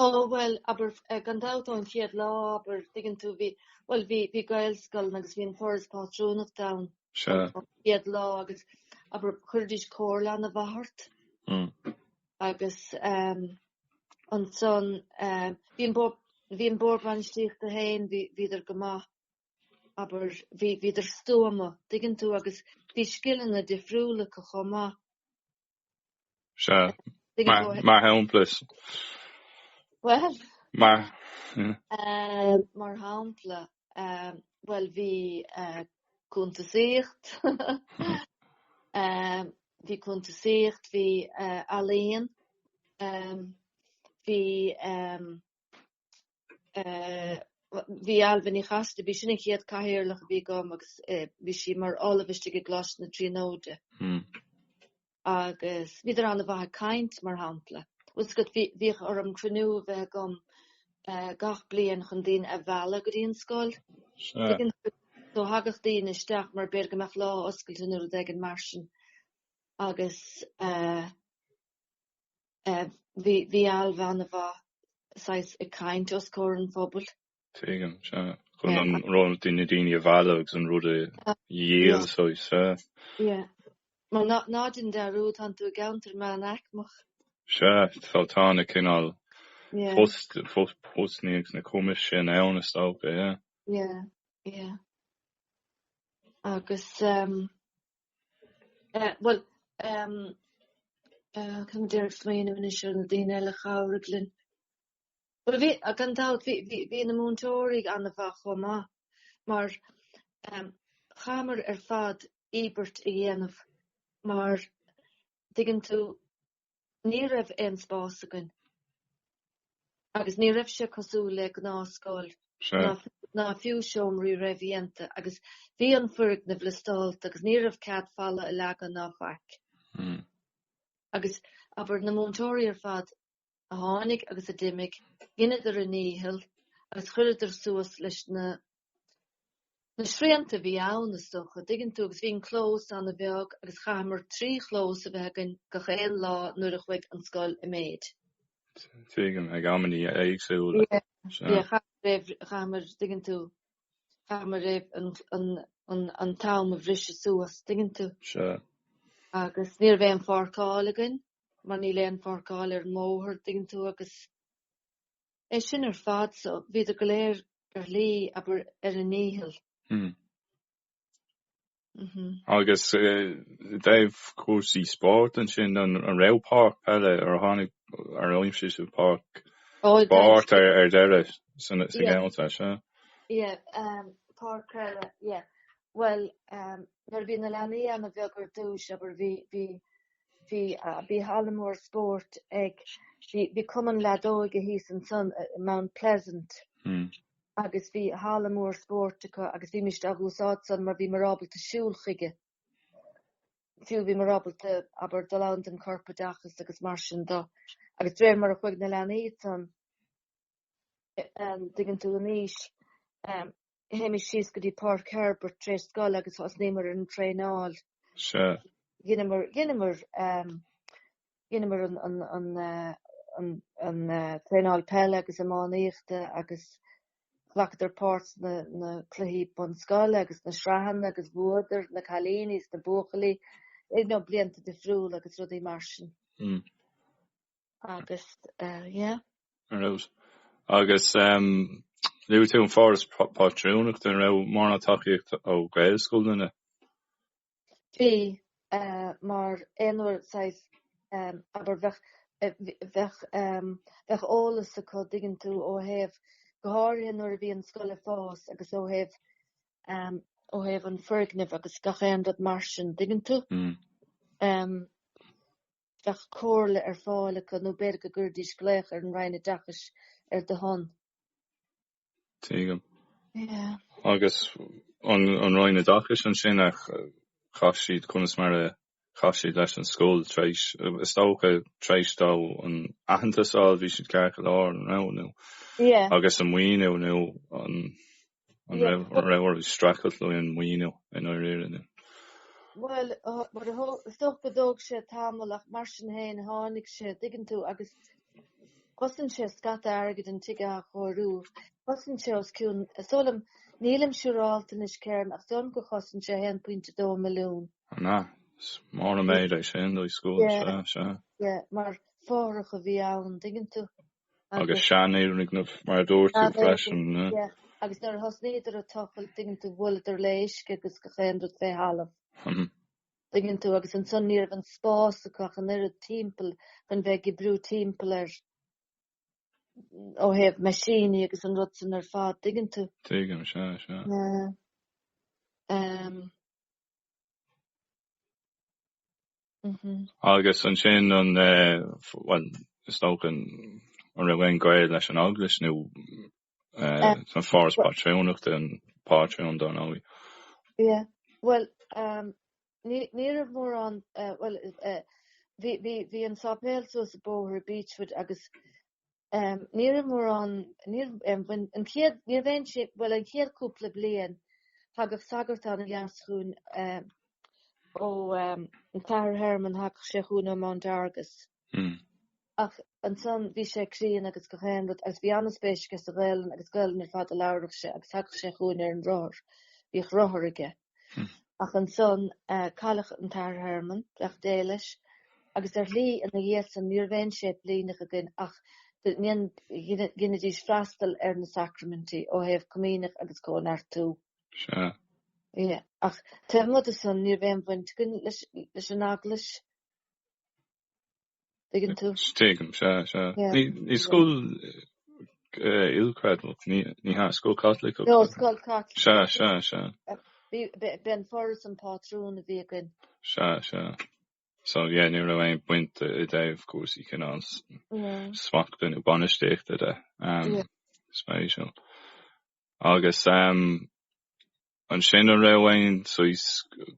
Speaker 2: Ó
Speaker 1: bhuel, abair, gan dabht ón chéad lá, abair, tuigeann tú, bhí, bhuel, bhí, bhí Gaelscoileanna agus bhí an Foras Pátrúnachta ann. Sea. An chéad lá agus, abair, chuiridís comhairle ana mhaith ort. Mm. Agus um, ansan, um, bhí an bord, bhí an bord bainistíochta féin, bhí, bhíodar go maith. abair, bhí, bhíodar stuama, dtuigeann tú, agus bhí scileanna difriúla acu chomh maith. Sea,
Speaker 2: mar shampla is.
Speaker 1: Bhuel. Mar.
Speaker 2: Mar
Speaker 1: shampla, bhuel, bhí cuntasaíocht, bhí cuntasaíocht, bhí ealaíon, bhí. bhí Ailbhe Ní Chasaide, b'í sin an chéad Cathaoirleach a bhí agam agus bhí sí mar ollamh istigh i gColáiste na Tríonóide agus bhíodar ana mhaith ag caint, mar shampla. Bhíodh orm cruinniú a bheith agam gach bliain chun daoine a mhealladh go dtí an scoil. So thagadh daoine isteach mar b'fhéidir go mbeadh lá oscailte nó rud éigin mar sin agus eh, bhí Ailbhe ana mhaith saghas ag
Speaker 2: caint
Speaker 1: os comhair an phobail. Tuigim, sea.
Speaker 2: Chun na daoine a mhealladh agus an rud a dhíol saghas, sea.
Speaker 1: Mar ná déan dearúd, tá tú i gceantar meánaicmeach. Sea,
Speaker 2: so tá na cineál postanna agus na cumais sin ann, is dócha, yeah. Yeah, yeah.
Speaker 1: Agus Eh, bhuel, em, eh, táim ag iarraidh smaoineamh anois ar na daoine eile a chabhraigh linn. Bhuel, bhí, eh, gan dabht, bhí, bhí, bhí na múinteoirí ana mhaith chomh maith, mar, em, chaitheamar ar fad íobairt a dhéanamh, mar, an dtuigeann tú, Ní raibh aon spás againn agus ní raibh sé cosúil le gnáthscoil ná fiú seomraí réamhdhéanta agus bhí an foirgneamh liostálta agus ní raibh cead falla a leagan ná faic. Hmm. Agus abair na múinteoirí ar fad a tháinig agus a d'imigh, dheineadar a ndícheall agus chuireadar suas leis na Na srianta a bhí ann, is dócha, an dtuigeann tú, agus bhí an clós an-bheag agus chaitheamar trí chlós a bheith againn gach aon lá nuair a chuaigh an scoil i méid. Tuigim,
Speaker 2: ag amanntaí éagsúla. Yeah,
Speaker 1: yeah, chaitheamar, tuigeann tú, chaitheamar an t-am a bhriseadh suas, tuigeann tú. Sea. Agus ní raibh aon pháirceáil againn, mar níl aon pháirceáil ar an mbóthar, tuigeann tú, agus. É sin ar fad so, bhíodar go léir ar a ndí, abair, ar a
Speaker 2: ndícheall. Agus i dtaobh cúrsaí spóirt ansin, an raibh páirc peile ar tháinig ar an aimsir seo, páirc spóirt ar deireadh sa gceann seo? Ie,
Speaker 1: páirc peile, ie. Bhuel ehm nuair a bhí na leanaí ana bheag ar dtúis abair bhí bhí bhí eh bhí halla mór spóirt ag bhí bhí cumann leadóige thíos ansan eh Mount Pleasant agus bhí halla mór spóirt acu agus bhí muid ag úsáid san mar bhíomar ábalta siúl chuige. Fiú bhíomar ábalta abair dul ann don corpoideachas agus mar sin de agus de réir mar a chuaigh na leanaí san eh eh dtuigeann tú in aois ehm Théimis síos go dtí Páirc Herbert tar éis scoile agus thosnaíomar ar an traenáil. Sure. Dheineamar, dheineamar ehm, dheineamar an, an, an, eh, an, an eh, traenáil peile agus iománaíochta agus ghlacadar páirt ins na cluichí bunscoile agus na sraitheanna agus bhuadar na cailíní is na buachaillí ag ar ndóigh blianta difriúla agus rudaí mar sin. Mm. Agus yeah. An
Speaker 2: raibh? Agus luaigh tú an Foras Pátrúnachta, an raibh mórán tacaíochta ó Ghaelscoileanna.
Speaker 1: Bhí, mar aon uair saghas, abair, bheadh, bheadh, bheadh eolas acu, dtuigeann tú, ó thaobh, go háirithe nuair a bhí an scoil ag fás agus ó thaobh, ó thaobh an foirgnimh agus gach aon rud mar sin, dtuigeann tú. Bheadh comhairle ar fáil acu, nó b'fhéidir go gcuirfidís glaoch ar an Roinn Oideachais ar do shon.
Speaker 2: Tuigim. Agus an Roinn Oideachais ansin, ach chaith siad, conas mar a chaith siad leis an scoil tar éis, is dócha tar éis dó an aitheantas a fháil, bhí siad ceart go leor, an raibh? Nó, agus an maoiniú, nó an. An raibh orthu streachailt le haghaidh an maoiniú i ndáiríre?
Speaker 1: Bhuel, mar, is dócha go dtóg sé tamall ach mar sin féin tháinig sé, an dtuigeann tú, agus chosain sé scata airgid an tigh a athchóiriú. Chosain sé os cionn, is dóigh liom, nílim siúrálta anois Kerron, ach is dóigh liom gur chosain sé 1.2 milliún. An ea? Is
Speaker 2: mór an méid é sin do scoil, sea, sea. Mar
Speaker 1: fothrach a bhí ann, tuigeann tú.
Speaker 2: agus seanfhoirgneamh mar a dúirt tú freisin. Agus nuair
Speaker 1: a thosnaíodar a' tochailt tuigeann tú bhuaileadar le uisce agus gach aon rud fé thalamh. Tuigeann tú, agus ansan ní raibh an spás acu ach an oiread timpeall chun bheith ag oibriú timpeall air ó thaobh meaisíní agus an rud san ar fad, tuigeann tú. Tuigim, sea, sea.
Speaker 2: Agus ansin an, bhuel, is dócha an raibh aon gaol leis an Eaglais nó an Foras Pátrúnachta, an pátrún, dár ndóigh.
Speaker 1: Yeah, bhuel, ní raibh mórán, bhuel, bhí an sáipéal suas an bóthar Beechwood agus Ní raibh mórán, an chéad, ní raibh aon sé, bhuel an chéad cúpla bliain thagadh sagart ana-dheas chugainn ó an tAthair Herman, thagadh sé chugainn ó Mount Argus ach ansan bhí sé críon agus gach aon rud agus bhí an-spéis aige sa Ghaelainn agus Gaelainn ar fad a labhradh sé agus thagadh sé chugainn ar an rothar, bhíodh rothar aige. Ach ansan, cailleadh an tAthair Herman, beannacht Dé leis, agus ar shlí ina dhiaidh san, ní raibh aon séiplíneach againn ach go ndeinidís freastal ar na sacraimintí ó thaobh comaoineach agus cóineartú. Sea. Ach taobh amuigh de san, ní raibh aon bhaint againn leis an Eaglais. Tuigeann tú? Tuigim, sea,
Speaker 2: sea. Ní scoil ilchreidmheach, ní hea? Scoil Chaitliceach? No, scoil
Speaker 1: Chaitliceach. Sea,
Speaker 2: sea, sea.
Speaker 1: B'é an Foras an pátrún a bhí againn. Sea,
Speaker 2: sea. So, yeah, ní raibh aon bhaint i dtaobh cúrsaí cineál smachta nó bainistíochta de. Spéisiúil. Agus, Ansin an raibh aon saghas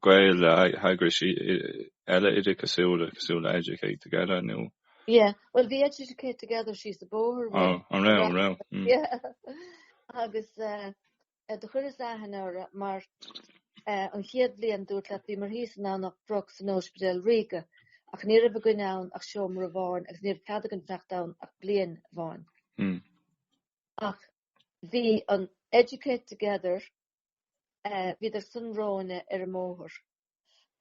Speaker 2: gaol le heagrais eile oideachasúla, cosúil le Educate Together nó. Yeah, bhuel bhí
Speaker 1: Educate Together síos a' bóthar uainn. Oh, an raibh, an raibh.
Speaker 2: Yeah.
Speaker 1: Agus do chuireas aithne orthu mar an chéad bhliain, dúrt leat, bhíomar thíos i nDomhnach Broc san Óispidéal Ríoga ach ní raibh againn ann ach seomra amháin agus ní raibh cead againn fanacht ann ach bliain amháin. Ach. bhí an Educate Together, bhíodar san romhainne ar an mbóthar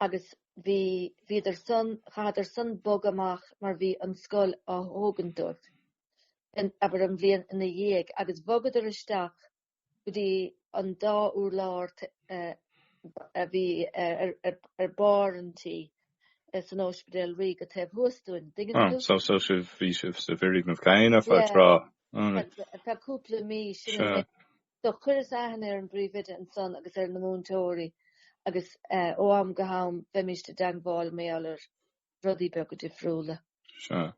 Speaker 1: agus bhí, bhíodar san, chaitheadar san bogadh amach mar bhí an scoil á thógaint dóibh, abair an bhliain ina dhiaidh agus bhogadar isteach go dtí an dá urlár a bhí ar barr an tí san Óispidéal Ríoga taobh thuas dúinn, dtuigeann tú?
Speaker 2: Bhí sibh sa bhfoirgneamh céanna feadh tráth.
Speaker 1: Feadh cúpla mí sin so do chuireas aithne ar an bpríomhoide ansan agus ar na múinteoirí agus ó am go ham bheimist i dteangmháil mar gheall ar rudaí beaga difriúla. Sea,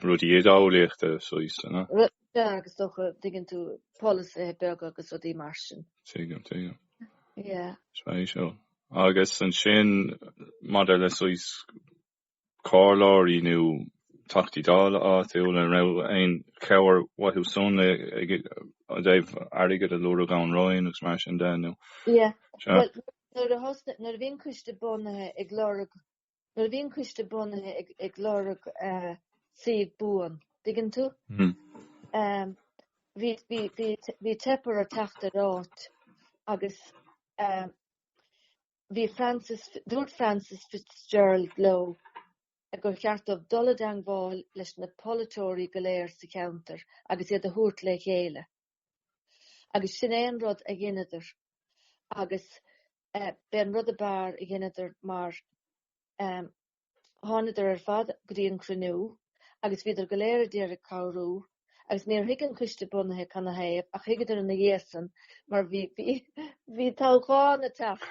Speaker 2: rudaí idé-eolaíochta saghas, an ea? Sea, agus
Speaker 1: dócha, dtuigeann tú, polasaithe beaga agus rudaí mar sin. Tuigim, tuigim. Sea. Spéisiúil.
Speaker 2: Agus ansin, maidir le saghas comhairleoirí nó Teachtaí Dála áitiúla, an raibh aon chabhair uathu san i dtaobh airgead a lorg ón Roinn agus mar sin de nó? Yeah, bhuel,
Speaker 1: nuair a bhí an coiste bunaithe ag lorg, nuair a bhí an coiste bunaithe ag, ag lorg suíomh buan, dtuigeann tú? Bhí, bhí, bhí, bhí teipthe orthu teacht ar áit agus. bhí Frances, dúirt Frances Fitzgerald leo gur cheart dóibh dul i dteangmháil leis na polaiteoirí go léir sa cheantar agus iad a thabhairt le chéile. Agus sin é an rud a dheineadar agus b'é an rud a b'fhearr a dheineadar mar, Thánadar ar fad go dtí an cruinniú agus bhíodar go léir a d'iarraidh cabhrú agus níor thuig an Coiste Bunaithe canathaobh ach thuigeadar ina dhiaidh san mar bhí bhí toghchán a' teacht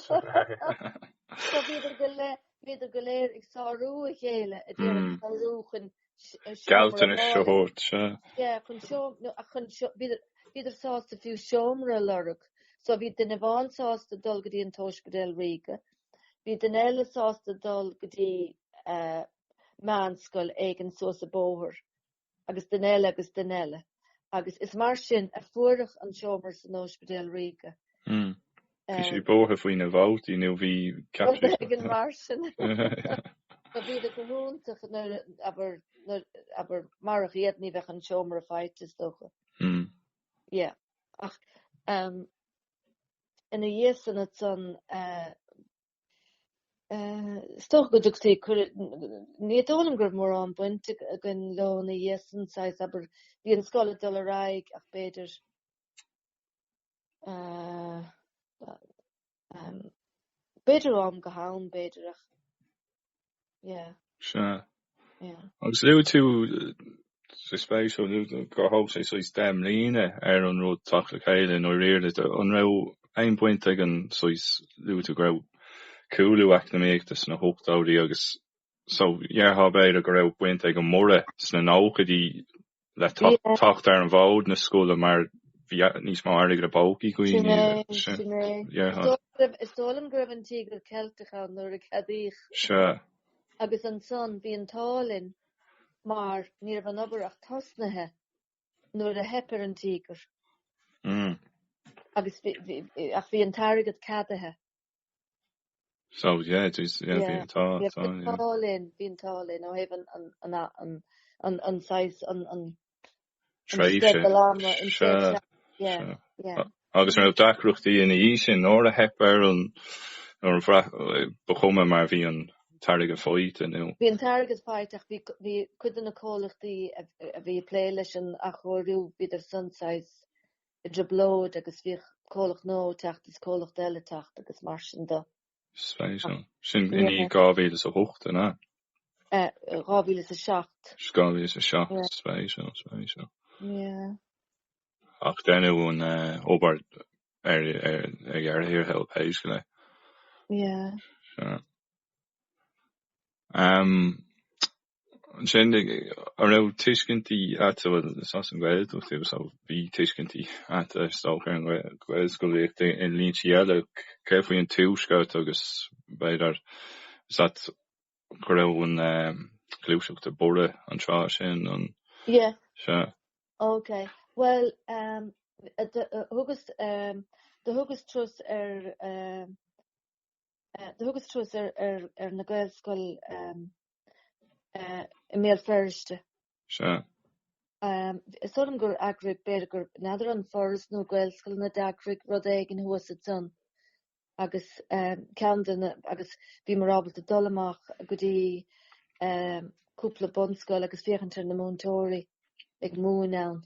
Speaker 1: so bhíodar go bhíodar go léir ag sárú a chéile a d'iarraidh cabhrú chun
Speaker 2: gealltanais
Speaker 1: a thabhairt. Bhíodar sásta fiú seomra a lorg. So bhí duine amháin sásta dul go dtí an t-óispidéal ríoga. Bhí duine eile sásta dul go dtí meánscoil éigin suas a' bóthar, agus duine eile agus duine eile. Agus is mar sin a fuaireadh an seomra san óispidéal ríoga.
Speaker 2: Bhí sé vótáil faoi na vótaí, nó bhí Catherine Bhí an mar
Speaker 1: sin. Bhí siad go hiontach, abair, marach iad ní bheadh an seomra faighte is dócha. Yeah. Ach ina dhiaidh san ansan is dócha go dtugtaí cuireadh, ní dóigh liom go raibh mórán baint againn leo ina dhiaidh san, saghas, abair, bhí an scoil ag dul ar aghaidh ach b'fhéidir, B'fhéidir ó am go ham, b'fhéidir, ach yeah. Sea. Yeah. Agus luaigh tú,
Speaker 2: is spéisiúil gur thóg sé saghas deich mbliana ar an rud teacht le chéile i ndáiríre. An raibh aon bhaint ag an saghas, luaigh tú go raibh cúlú eacnamaíochta sna hochtóidí agus so dhearfá, b'fhéidir, go raibh baint ag an mborradh sna nóchaidí le teacht ar an bhfód na scoile mar bheadh níos mó airgid i bpócaí dhaoine. Sin é, sin
Speaker 1: é. Yeah. Is dóigh liom go raibh an Tíogar Ceilteach ann nuair a cheadaíodh. Sea.
Speaker 2: Agus
Speaker 1: ansan bhí an t-ádh linn mar ní raibh an obair ach tosnaithe nuair a theip ar an Tíogar. Mm. Agus bhí, bhí, ach bhí an t-airgead ceadaithe.
Speaker 2: So yeah, geez, yeah, bhí, tá, yeah, tá, bhí an
Speaker 1: yeah.
Speaker 2: t-ádh
Speaker 1: linn,
Speaker 2: bhí an
Speaker 1: t-ádh linn ó thaobh an, an, an, an, an, an saghas, an, an, an Tréimhse, sceideal ama, an sea,
Speaker 2: tréimhse ama, yeah, sea.
Speaker 1: yeah. A-
Speaker 2: agus an
Speaker 1: raibh deacrachtaí
Speaker 2: ina dhiaidh sin, nuair a theip ar an, ba chuma mar bhí an t-airgead faighte, nó. Bhí an t-airgead faighte
Speaker 1: ach bhí, bhí cuid de na comhlachtaí a, a bhí ag plé leis an athchóiriú, bhíodar san saghas, i dtrioblóid agus bhíodh comhlacht nua ag teacht is comhlacht eile ag teacht agus mar sin de. Spéisiúil.
Speaker 2: Sin i ndiaidh 2008, an ea? 2007. 2007,
Speaker 1: spéisiúil.
Speaker 2: Yeah. Ach deineadh an obair ar deireadh thiar thall, pé scéal é. Yeah.
Speaker 1: Sea.
Speaker 2: Ansin, an raibh tuiscintí agat, bhuel, is as an nGaeltacht thú, so bhí tuiscintí agat, is dócha, ar an Ghaelscolaíocht i ndlínsí eile. Céard faoi an Tuaisceart agus, b'fhéidir, is ea, go raibh an ghluaiseacht ag borradh an tráth sin, an ea?
Speaker 1: Ok, bhuel, do thugas, do thugas turas ar, Thugas turas ar na Gaelscoileanna i mBéal Feirste. Is dóigh liom gur eagraigh, b'fhéidir gur n'fheadar an Foras nó Gaelscoileanna a d'eagraigh rud éigin thuas ansan agus ceann de na, agus bhíomar ábalta dul amach go dtí cúpla bunscoil agus féachaint ar na múinteoirí ag múineadh ann.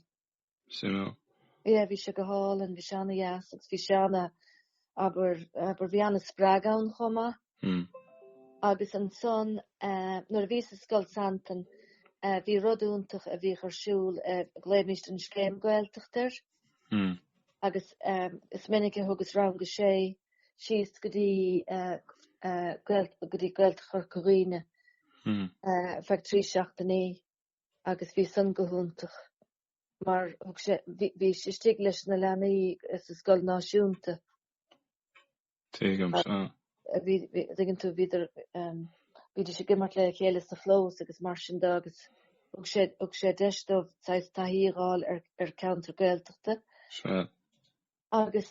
Speaker 2: Sea. Yeah, bhí
Speaker 1: sé go hálainn, bhí sé ana dheas agus bhí sé ana, abair, abair, bhí ana spreag ann chomh maith. Hm. Agus ansan, eh, nuair a bhíos i Scoil Santain, eh, bhí rud iontach a bhíodh ar siúl, eh, ghlaoimíst an Scéim Gaeltachta air. Hm. Agus, eh, is minic a thugas rang a sé síos go dtí, eh, eh, Gael- go dtí Gaeltacht Chorca Dhuibhne. Hm. Eh, feadh trí seachtainí. agus bhí san go hiontach mar thug sé, bhí sé istigh leis na leanaí sa scoil náisiúnta.
Speaker 2: Tuigim,
Speaker 1: sea. Dtuigeann tú, bhíodar, bhídís ag imirt le chéile sa chlós agus mar sin de agus thug sé, thug sé deis dóibh saghas taithí a dh'fháil ar ceantar Gaeltachta. Sea.
Speaker 2: Agus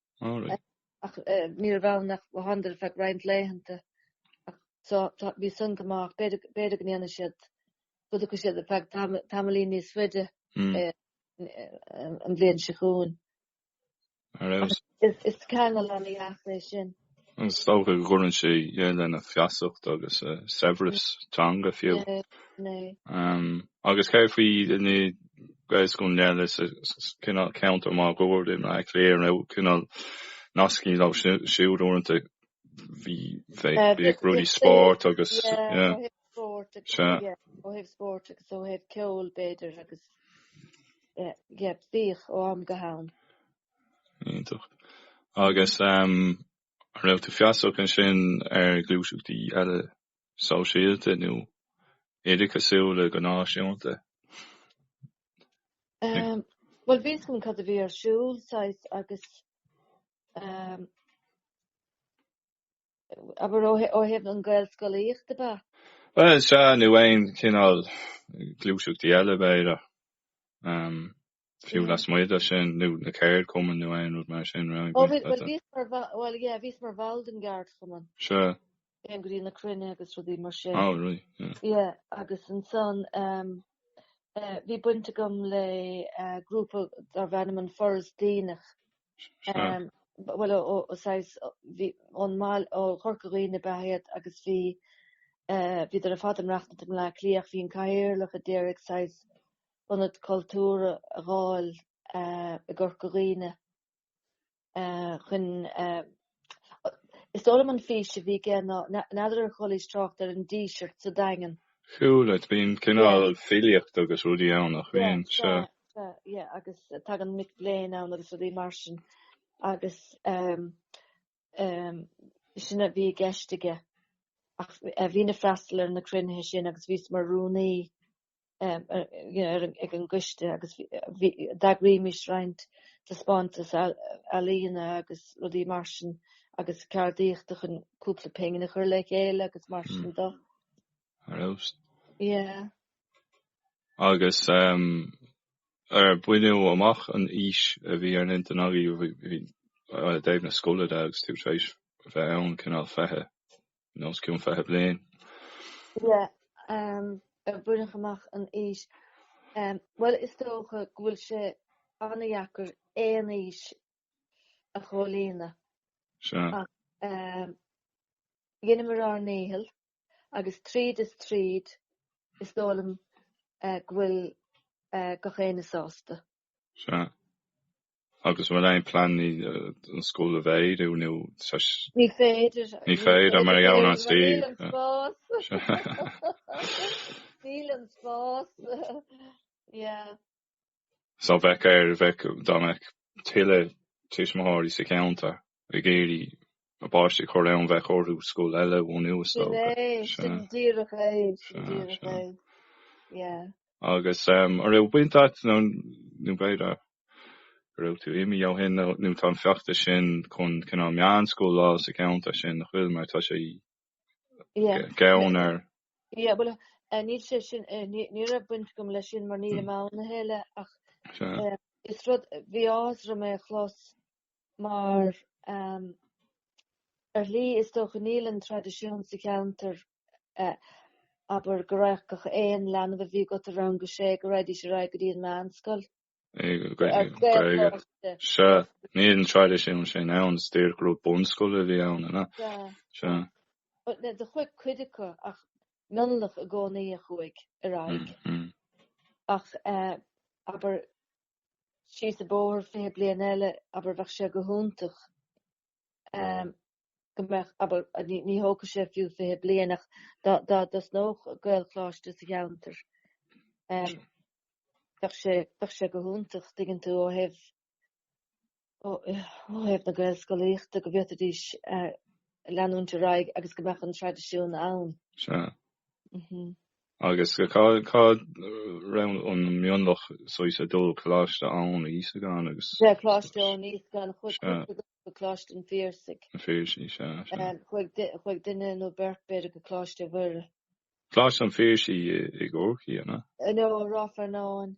Speaker 1: Ach ní raibh ann ach d'fhanadar ar feadh roinnt laethanta. Ach so, tá, bhí san go maith. B'fhéidir, b'fhéidir go ndéanfaidh siad, go dtiocfaidh siad ar feadh tamall, tamaillín níos faide an bhliain seo chugainn. Is ceangal an-dheas é sin. Is dócha go
Speaker 2: gcuireann sé lena feasacht agus a saibhreas teanga fiú. Agus céard faoi na Gaelscoileanna eile sa cineál ceantar máguaird in Áth Cliath nó cineál nascaí leo siúd uaireanta? Bhí bhíodh rudaí spóirt agus ó thaobh
Speaker 1: spóirt agus ó thaobh ceoil b'fhéidir agus bhíodh ó am go ham.
Speaker 2: Iontach. Agus an raibh tú feasach ansin ar ghluaiseachtaí eile sóisialta nó oideachasúla go
Speaker 1: náisiúnta? Bhuel, bhí a fhios agam cad a bhí ar siúl, saghas, agus. Abair, ó thaobh an Gaelscolaíochta, ab ea? Bhuel,
Speaker 2: sea, nó aon chineál gluaiseachtaí eile, b'fhéidir, fiú lasmuigh de sin, nó na ceardchumainn nó aon rud mar sin, raibh Ó, bhuel, bhíos mar,
Speaker 1: bhíos mar bhall den gceardchumann. Sea.
Speaker 2: Théinn go dtí
Speaker 1: na cruinnithe agus rudaí mar sin. Ó, right, yeah.
Speaker 2: Yeah,
Speaker 1: agus ansan, bhí baint agam le grúpa darbh ainm An Foras Deonach, bhuel saghas ón mbaile ó Chorca Dhuibhne ab ea iad agus bhí bhíodar ar fad ag maireachtaint i mBleá Cliath ach bhí an Cathaoirleach a d'iarraidh saghas ionad cultúir a dh'fháil i gCorca Dhuibhne chun Is dóigh liom an fís a bhí aige ná, n'fheadar ar chualaís trácht ar an Díseart sa Daingean? Chuala, bíonn
Speaker 2: cineál filíocht agus rudaí ann nach mbíonn, sea. Sea, sea, agus
Speaker 1: tagann mic léinn ann agus rudaí mar sin agus sin a bhí i gceist aige ach bhínn ag freastal ar na cruinnithe sin agus bhíos mar rúnaí ag an gcoiste agus d'eagraímis roinnt taispeántais ealaíne agus rudaí mar sin agus ceardaíochta chun cúpla pingin a chur le chéile agus mar sin de.
Speaker 2: Yeah. Agus ar baineadh amach an fhís a bhí ar an intinn agaibh i dtaobh na scoile de agus tú tar éis bheith ann, cineál feiche? Nó os cionn fiche bliain.
Speaker 1: Yeah, ar baineadh amach an fhís. Ehm, bhuel, is dócha go bhfuil sé an-dheacair aon fhís a chomhlíonadh. Sea.
Speaker 2: Ach,
Speaker 1: ehm, dheineamar ár ndícheall, agus tríd is tríd, is dóigh liom, eh, go bhfuil, eh, gach éinne sásta. Sea.
Speaker 2: Agus an bhfuil aon plean anois an scoil a mhéadú nó?
Speaker 1: Ní féidir. Ní féidir mar gheall ar an
Speaker 2: suíomh. Níl an spás. Níl
Speaker 1: an
Speaker 2: spás. Yeah. So bheadh air, bheadh, dá mbeadh tuilleadh tuismitheoirí sa cheantar ag iarraidh a bpáistí a chur ann bheadh orthu scoil eile a bhunú is dócha. Sin é, sin
Speaker 1: díreach é, sin díreach é, yeah. Agus um,
Speaker 2: an raibh baint agat, nó, nó b'fhéidir go raibh tú imithe ó shin, nó, nó tá an feachtas sin chun cineál meánscoil a fháil sa cheantar sin an bhfuil mar tá sé yeah. gann ar. Yeah, well,
Speaker 1: uh, níl sé sin, uh, ní, ní raibh baint agam leis sin mar níl mm. muid lena chéile ach sure. uh, is rud bhí áthas orm é a chlos mar ar shlí is dócha níl an traidisiún sa cheantar, abair, go raghadh aon leanbh a bhí againn i rang a sé, go raghaidís ar aghaidh go dtí an mheánscoil. Gaeilge.
Speaker 2: Sea, níl an traidisiún sin ann, is díreach go raibh bunscoil a bhí ann, an ea? Sea.
Speaker 1: Sea. But do chuaigh cuid acu, ach mionlach i gcónaí a chuaigh ar aghaidh. Ach, abair, síos an bóthar fiche bliain eile abair bheadh sé go hiontach go mbeadh abair ní thógfadh sé fiú fiche bliain ach dá dá dtosnódh Gaelcholáiste sa cheantar bheadh sé bheadh sé go hiontach tuigeann tú ó thaobh ó thaobh na Gaelscolaíochta, go bhféadfaidís leanúint ar aghaidh agus go mbeadh an traidisiún ann.
Speaker 2: Sea. Agus cá raibh an mionlach saghas ag dul Coláiste Íosagáin agus. Sea, Coláiste
Speaker 1: Íosagáin, chuaigh cuid acu go Coláiste an Phiarsaigh. An Phiarsaigh,
Speaker 2: sea, sea.
Speaker 1: Chuaigh duine nó beirt, b'fhéidir, go Coláiste Mhuire. Coláiste an
Speaker 2: Phiarsaigh i gCorcaigh, an ea? No, i Ráth
Speaker 1: Fearnáin.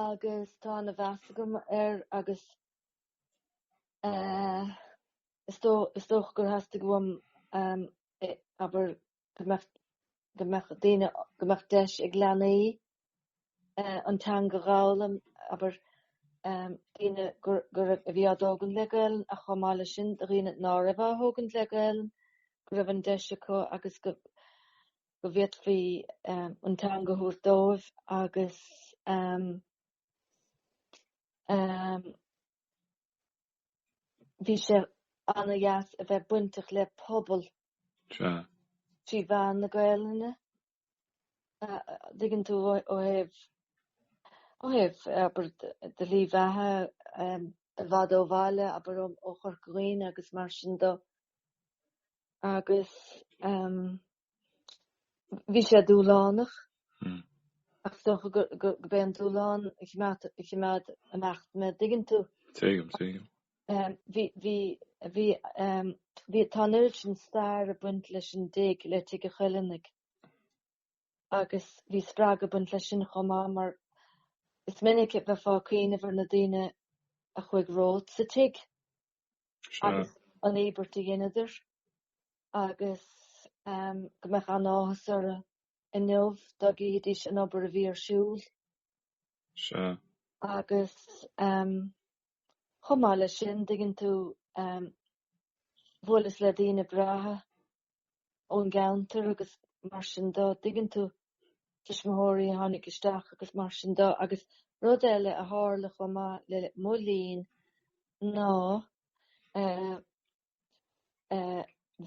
Speaker 1: agus tá ana-mheas agam air agus eh is dó- is dócha gur theastaigh uaim ehm eh abair go mbeadh- go mbeadh daoine, go mbeadh deis ag leanaí eh an teanga a dh'fhoghlaim, abair ehm daoine gur- go raibh, a bhí á dtógaint le Gaelainn ach chomh maith leis sin do dhaoine nár raibh á thógaint le Gaelainn go raibh an deis acu agus go go bhféadfaí an teanga a thabhairt dóibh agus bhí sé ana-dheas a bheith bainteach le pobal trí mheán na Gaelainne. Dtuigeann tú ó thaobh ó thaobh abair do shlí bheatha i bhfad ó bhaile abair ó Chorca Dhuibhne agus mar sin do. agus bhí sé dúshlánach ach is dócha gurbh é an dúshlán a chimeád ag imeacht mé dtuigeann tú. Tuigim, tuigim. Tá an oiread sin stair ag baint leis an dtigh, le Tigh an Choileánaigh, agus bhí spreagadh ag baint leis sin chomh maith mar is minic a bheifeá ag cuimhneamh ar na daoine a chuaigh romhat sa tigh. agus an íobairt a dheineadar agus go mbeadh an-áthas orthu inniu dá gcífidís an obair a bhí ar siúl. Sea. Agus chomh maith leis sin, dtuigeann tú, bhuaileas le daoine breátha ón gceantar agus mar sin do, dtuigeann tú, tuismitheoirí a tháinig isteach agus mar sin do agus rud eile a tharla chomh maith le mo linn ná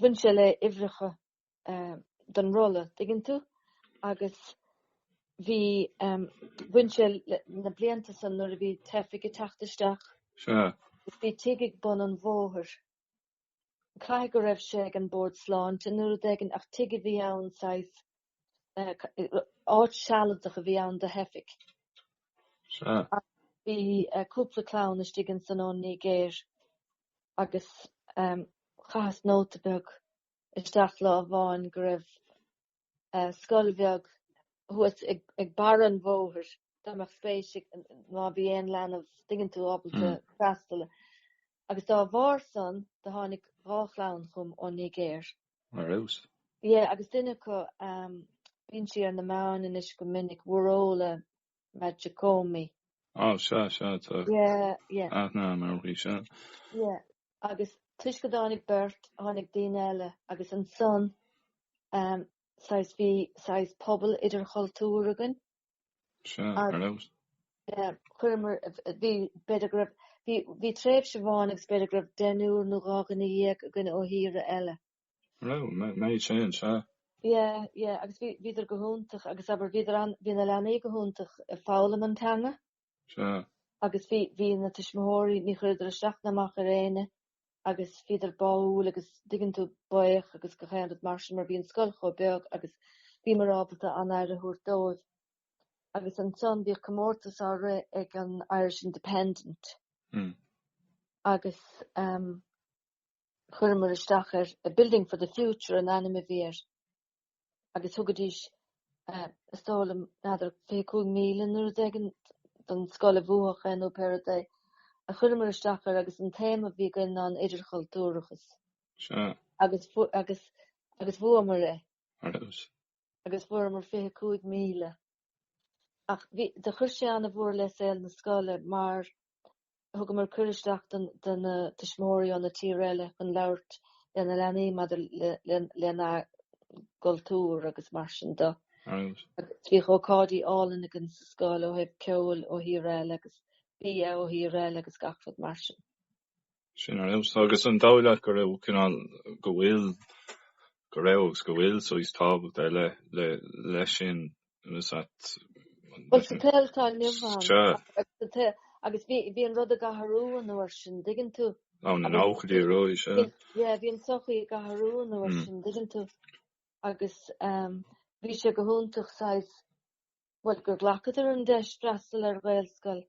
Speaker 1: bhain sé le uimhreacha don rolla, dtuigeann tú, agus bhí, bhain sé le na blianta san nuair a bhí teifigh ag teacht isteach, bhí tigh ag bun an bhóthair. caithfidh go raibh sé ag an Bord Sláinte nó rud éigin, ach tigh a bhí ann saghas, áit sealadach a bhí ann do theifigh. Sea. Bhí cúpla clann istigh ansan ón Nigéir agus chaitheas nóta beag isteach lá amháin go raibh scoil bheag thuas ag barra an bhóthair dá mbeadh spéis ag, má bhí aon leanbh dtuigeann tú, ábalta freastal agus dá bharr san do tháinig dhá chlann chugam ón Nigéir. Ar fheabhas. Yeah, agus duine acu, bíonn sí ar na meáin anois go minic, Wuraola. Majekodunmi. Oh, sea, sea tú. Yeah, yeah. Ath ná an amharclaí seo. Yeah. Agus toisc go dtáinig beirt, tháinig daoine eile, agus ansan, ehm, saghas, bhí saghas pobal idirchultúir againn. Sea, ar fheabhas. Yeah, chuireamar, bhí, b'fhéidir go raibh, bhí, bhí tréimhse amháin agus b'fhéidir go raibh deichniúr nó dhá dhuine dhéag againn ó thíortha eile. Well, made change, huh? Yeah, yeah, agus bhí, bhíodar go hiontach, agus abair, bhíodar an, bhí na leanaí go hiontach ag foghlaim an teanga. Sea. Agus bhí, bhí na tuismitheoirí, ní chuireadar isteach ná amach ar éinne, agus bhíodar báúil, agus dtuigeann tú, baoch agus gach aon rud mar sin, mar bhí an scoil chomh beag, agus bhíomar ábalta an-aire a thabhairt dóibh. Agus ansan bhíodh comórtas á rith ag an Irish Independent. Hm. Agus, ehm, Chuireamar isteach ar A Building for the Future an ainm a bhí air agus thugaidís, is dóigh liom, n'fheadar, £25,000 nó rud éigin don scoil a bhuafadh é nó pé rud é. Ach chuireamar isteach air agus an téama a bhí againn ná an idirchultúrachas. Sea. Agus, agus, agus bhuamar é. Mar a dúirt. agus fuaireamar 25,000. Ach bhí, do chuir sé an-mhór le saol na scoile mar thugamar cuireadh isteach don, do na tuismitheoirí ó na tíortha eile chun labhairt le na leanaí maidir le, le, lena gcultúr agus mar sin de. Agus bhíodh ócáidí álainn againn sa scoil ó thaobh ceoil ó thír eile agus bia ó thír eile agus gach rud mar sin. Sin
Speaker 2: ar fheabhas, agus an dóigh leat go raibh cineál, go bhfuil, go raibh agus go bhfuil saghas tábhacht ar leith le, leis sin, is that, an,
Speaker 1: Bhuel, sa tsaol atá inniu ann, sure. agus sa tsaol, agus bhí, bhí an rud ag athrú an uair sin, dtuigeann tú? Ó, na nóchaidí
Speaker 2: ar ndóigh, sea. Bhí- Yeah, bhí an
Speaker 1: sochaí ag athrú an uair Mm. sin, dtuigeann tú? Agus ehm, bhí sé go hiontach saghas bhuel, gur ghlacadar an deis freastal ar Ghaelscoil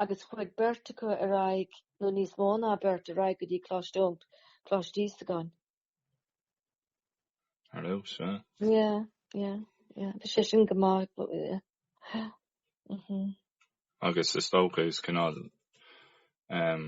Speaker 1: agus chuaigh beirt acu ar aghaidh, nó níos mó ná beirt, ar aghaidh go dtí Coláiste Eoin, Coláiste Íosagáin. Ó, sea. Yeah, yeah, yeah. Bhí sé sin go maith ag baint, yeah. Mh-mh.
Speaker 2: Agus is dócha, is cineál, ehm,